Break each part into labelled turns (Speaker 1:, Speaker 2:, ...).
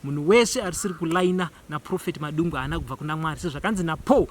Speaker 1: Munhu wese arisiri kulaina naProphet Madungwe haana kubva kuna Mwari sezvakanzi naPaul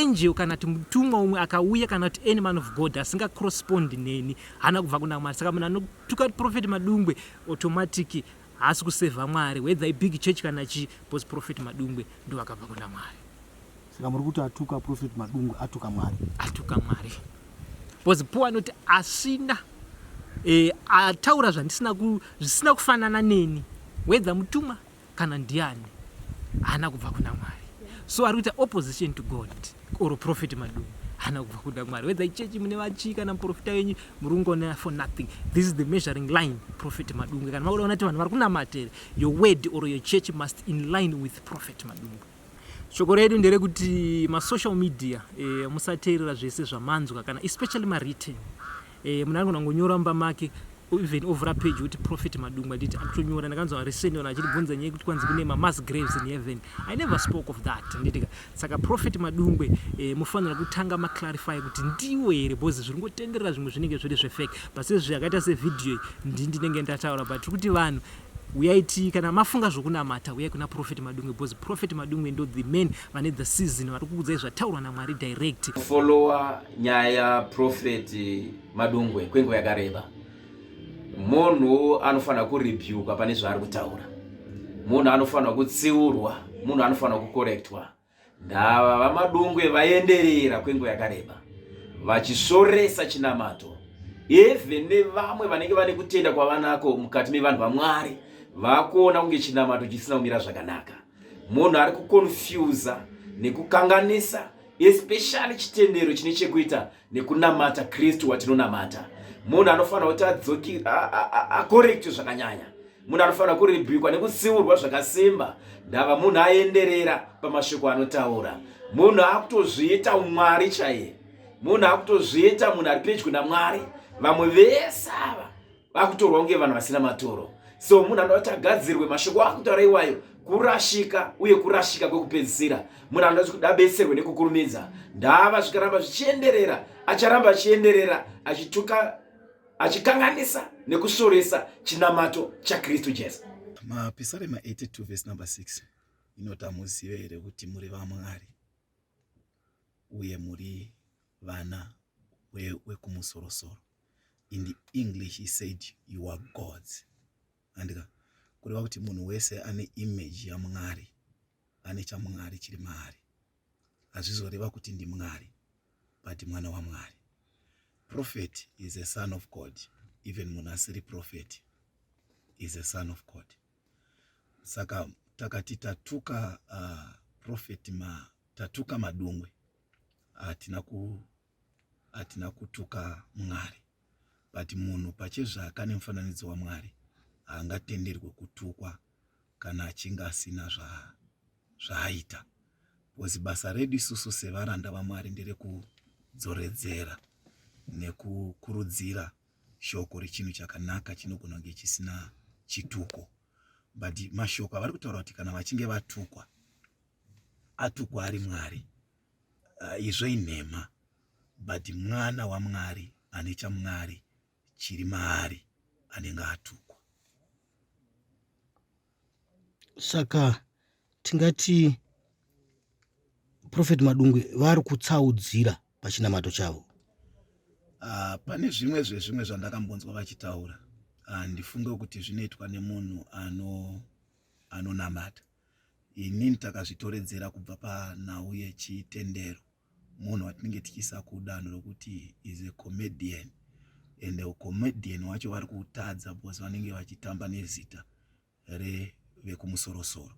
Speaker 1: angel kana kuti mutumwa umwe akauya kana kuti any man of God asinga correspond neni haana kubva kuna Mwari saka munhu anotuka kuti Prophet Madungwe automatic haasi kusevha Mwari whether ibig church kana chii because Prophet Madungwe ndovakabva kuna Mwari. Saka muri kuti
Speaker 2: atuka Prophet Madungwe atuka Mwari? Atuka Mwari.
Speaker 1: Because Paul anoti asina eh, ataura zvandisina ku, zvisina kufanana neni wedza mutuma kana ndiani haana kubva kuna Mwari. So ari kuita opposition to God or Prophet Madungwe hana kubva kuda mwari wedza ichechi mune vachii kana muprofita wenyu muri kungonena for nothing this is the measuring line prophet madungwe kana makuda kunati vanhu vari kunamatere your word or your church must in line with prophet madungwe Shoko redu nderekuti masocial media e, musateerera zvese zvamanzwa kana especially mawritten e, munhu anogona kungonyora mumba make even ovhura page uti prophet madungwa nditi akutonyora ndakanzwa resenona achitibvunza nyaya yekuti kwanzi kune mamas graves in heaven i never spoke of that nditika saka prophet madungwe e, mufanira kutanga maclarify kuti ndiwo here bcause zviri ngotenderera zvimwe zvinenge zviri zvefake but sezvi akaita sevhidhiyo iyi ndi ndinenge ndataura but tiri kuti vanhu Huyai tii kana mafunga zvokunamata huyai kuna prophet Madungwe because prophet Madungwe ndo the man vane the season vari kukudzai zvataurwa naMwari direct. Follower
Speaker 3: nyaya ya prophet Madungwe kwenguva yakareba. Munhu anofanira kurebuka pane zvaari kutaura. Munhu anofanira kutsiurwa, munhu anofanira kukorektwa. Ndava vaMadungwe vaenderera kwenguva yakareba vachisvoresa chinamato eve nevamwe vanenge vane kutenda kwavanako mukati mevanhu vaMwari vakuona kunge chinamato chisina kumira zvakanaka. Munhu ari kukonfyuza nekukanganisa especially chitendero chine chekuita nekunamata Kristu watinonamata. Munhu anofanira kuti adzoki akorekti zvakanyanya. Munhu anofanira kuribhikwa nekutsiurwa zvakasimba ndava munhu aenderera pamashoko anotaura. Munhu akutozviita umwari chaiye. Munhu akutozviita munhu ari pedyo naMwari. Vamwe vese ava vakutorwa kunge vanhu vasina matoro so munhu anoda kuti agadzirwe mashoko akutaura iwayo kurashika uye kurashika kwekupedzisira munhu anoda kuti abetserwe nekukurumidza ndava zvikaramba zvichienderera acharamba achienderera achituka achikanganisa nekusvoresa chinamato chakristu jesu mapisarema
Speaker 4: 82 vhesi number 6 inoti hamuzive here kuti muri vamwari uye muri vana wekumusorosoro in the english he said you are gods andika kureva kuti munhu wese ane image yamwari ane chamwari chiri maari hazvizoreva kuti ndimwari but mwana wamwari prophet is a son of god even munhu asiri prophet is a son of god saka takati tatuka uh, prophet ma tatuka madungwe hatina ku hatina kutuka mwari but munhu pachezvake ane mufananidzo wamwari haangatenderwe kutukwa kana achinge asina zvaaita zva bcause basa redu isusu sevaranda vamwari nderekudzoredzera nekukurudzira shoko rechinhu chakanaka chinogona kunge chisina chituko but mashoko avari kutaura kuti kana vachinge vatukwa atukwa ari mwari uh, izvo inhema but mwana wamwari ane chamwari chiri maari anenge atukwa
Speaker 2: saka tingati prophet madungwe vari kutsaudzira pachinamato chavo uh,
Speaker 4: pane zvimwe zvezvimwe zvandakambonzwa vachitaura handifunge ah, uh, kuti zvinoitwa nemunhu ano anonamata Inini takazvitoredzera kubva panhau yechitendero munhu watinenge tichiisa kudanho rokuti is a comedian and comedian wacho vari kutadza because vanenge vachitamba nezita revekumusorosoro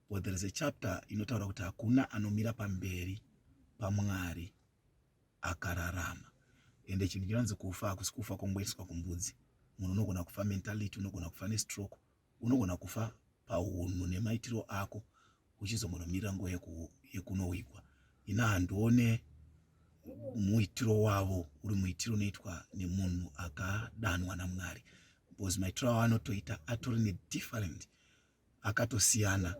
Speaker 4: but there is a chapter inotaura kuti hakuna anomira pamberi pamwari akararama ende chinhu chinonzi kufa hakusi kufa kongoiswa kumbudzi munhu unogona kufa mentality unogona kufa nestroke unogona kufa pahunhu nemaitiro ako uchizombonomirira nguva yekunowigwa ina handione muitiro wavo uri muitiro unoitwa nemunhu akadanwa namwari because maitiro avo anotoita atori nedifferent akatosiyana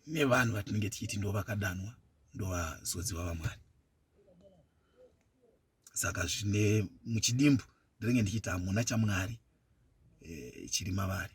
Speaker 4: nevanhu vatinenge tichiti ndo vakadanwa ndovazodziva vamwari saka zvine muchidimbu ndinenge ndichiita hamuna chamwari e, chiri mavari